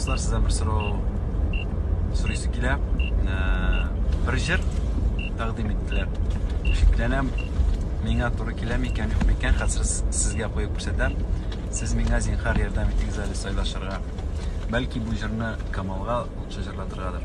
Кызлар, сездән бер сорау сорыйсы килә. Э, бер җыр тәкъдим иттеләр. Шикләнәм, миңа туры килә микән, юк микән, хәзер сезгә куеп күрсәтәм. Сез миңа зинхар ярдәм итегез әле сайлашырга. Бәлки бу җырны Камалга лучше җырлатыргадыр.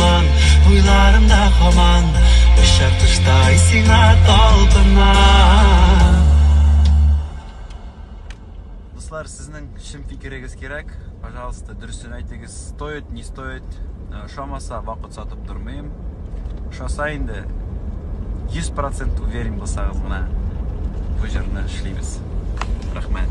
Моң уйларымда һаман Очар коштай сиңа талпынам Дуслар, сезнең чын фикерегез кирәк. Пожалуйста, дөресен әйтегез. Стоит, не стоит. Э, Шамаса вакыт сатып тормыйм. Шаса инде 100% уверен булсагыз гына бу җырны эшлибез. Рәхмәт.